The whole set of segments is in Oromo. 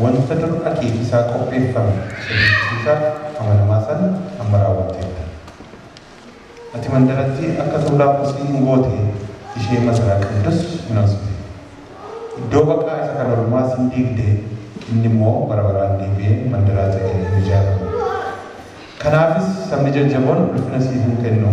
Wanta dur akeeki isaa qopheeffame isa dinqisiisaa amanamaa sana amma raawwatteetta. Ati mandarattii akka tuulaa kosii in goote, ishee masaraa qabdus in onsite. Iddoo baqaa isa kan ormaas in diigde, inni immoo bara baraan deebi'ee mandaraa ta'ee hin ijaaramu. Kanaafis sabni jajjaboon ulfina siif in kennu.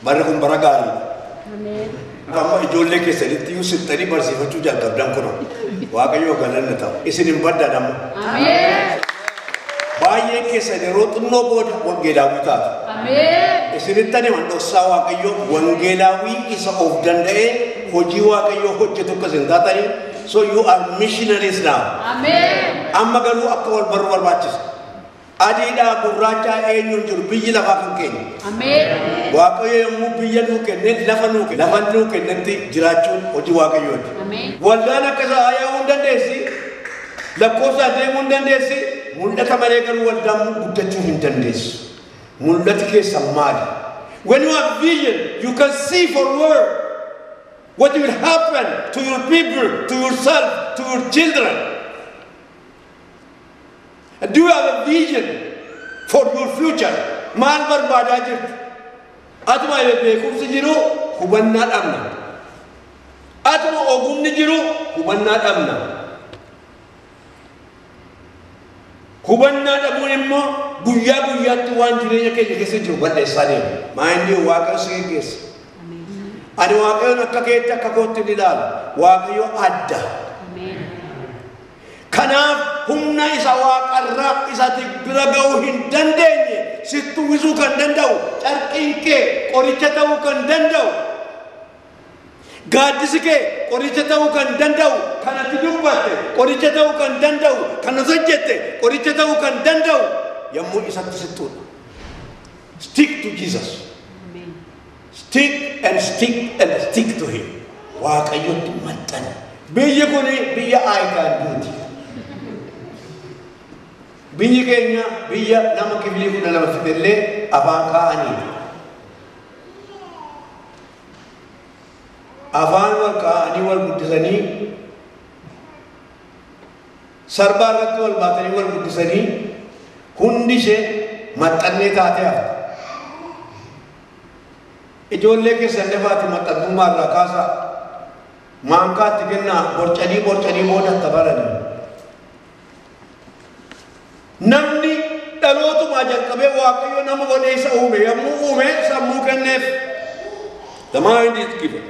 Barri kun bara gaariidha. Ameen. Amma ijoollee keessanitti iyyuu sittanii barsiifachuu jalqabdan kunoo. Waaqayyoo galanni ta'u. Isin hin baddan amma. Ameen. Baay'een keessan yeroo xinnoo booda wangeelaawwii taatu. Ameen. Isinittan himan dhoksaa Waaqayyoo wangeelaawwii isa of danda'ee hojii Waaqayyoo hojjetu akka isin taatanii so you are missionaries now. Ameen. Amma garuu akka wal barru barbaachisa. Adiidhaa gurraachaa eenyuun jiru biyyi lafaa kan keenya. Ameen. Waaqayyo yommuu biyya nuu kenne lafa nuu kenne lafa nuu kennetti jiraachuun hojii waaqayyooti. Ameen. Waldaan akka isaa yaa'uu hin dandeessi. Lakkoofsaan deemuu hin dandeessi. Mul'ata malee garuu waldaan guddachuu hin dandeessu. Mul'ati keessan maali? When you have vision, you can see forward what will happen to your people, to yourself, to your children. Do you have a vision for your future? Maal barbaadaa jirtu? Atuma beekumsi jiru hubannaa dhabna. Atuma ogumni jiru hubannaa dhabna. Hubannaa dhabuun immoo guyyaa guyyaatti waan jireenya keenya keessa jiru balleessaa deema. Maayindii Waaqayyo si geggeessa. Ani Waaqayyoon akka keetti akka kootti ni ilaala. Waaqayyo adda. Kanaaf humna isa waaqarraa isati bira ga'uu hin dandeenye sitti uwwisuu kan danda'u carqiin kee qoricha ta'uu kan danda'u gaaddisi kee qoricha ta'uu kan danda'u kanatti dubbatte qoricha ta'uu kan danda'u kan hojjette qoricha ta'uu kan danda'u yommuu isatti sitti Stick to Jesus. Stick and stick and stick to him. Waaqayyotti maxxani. Biyyi kun biyya I can do ti. Biyyi keenya biyya nama kifilii kudha lama fixe illee afaan kaa'anii afaan wal kaa'anii wal guddisanii sarbaa irratti wal baatanii wal guddisanii hundi ishee maxxannee taatee hafte. Ijoollee keessan dafaatii maxxantummaa irraa kaasaa. Maankaa itti kennaa borcanii borcanii booda akka barani. Namni dhalootumaa jalqabee Waaqayyo nama godhee isa uume yommuu uume sammuu kenneef. The mind is given.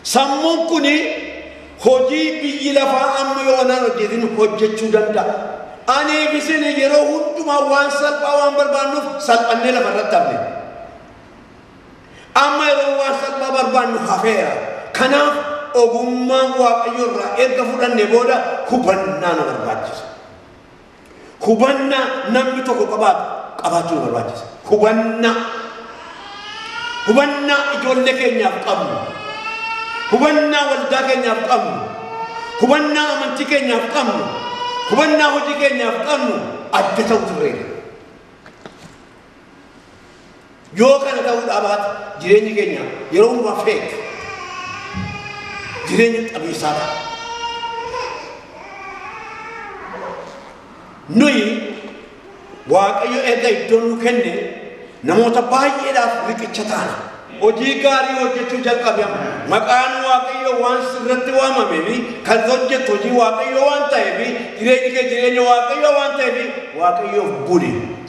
Sammuun kun hojii biyyi lafaa amma yoo anaan hojjetin hojjechuu danda'a. Anii fi isin yeroo hundumaa waan salphaa waan barbaannuuf salphannee lafa irratti hafne. Amma yeroo waan salphaa barbaannu hafeera. Kanaaf ogummaan Waaqayyo irraa erga fudhanne booda hubannaa nu barbaachisa. Hubannaa namni tokko qabaatu qabaachuu nu barbaachisa. Hubannaa. Hubannaa ijoollee keenyaaf qabnu. Hubannaa waldaa keenyaaf qabnu. Hubannaa amantii keenyaaf qabnu. Hubannaa hojii keenyaaf qabnu adda ta'u turreera. Yoo kana ta'uu dhaabaate jireenyi keenya yeroo hundumaa feek jireenya qabiisaa ta'a. Nuyi Waaqayyo erga iddoo nuu kenne namoota baay'eedhaaf riqicha taana. Hojii gaarii hojjechuu jalqabe amma. Maqaan Waaqayyo waan sirratti waamamee fi kan hojjetu hojii Waaqayyo waan ta'eef jireenya kee jireenya Waaqayyo waan ta'eef Waaqayyoof buli.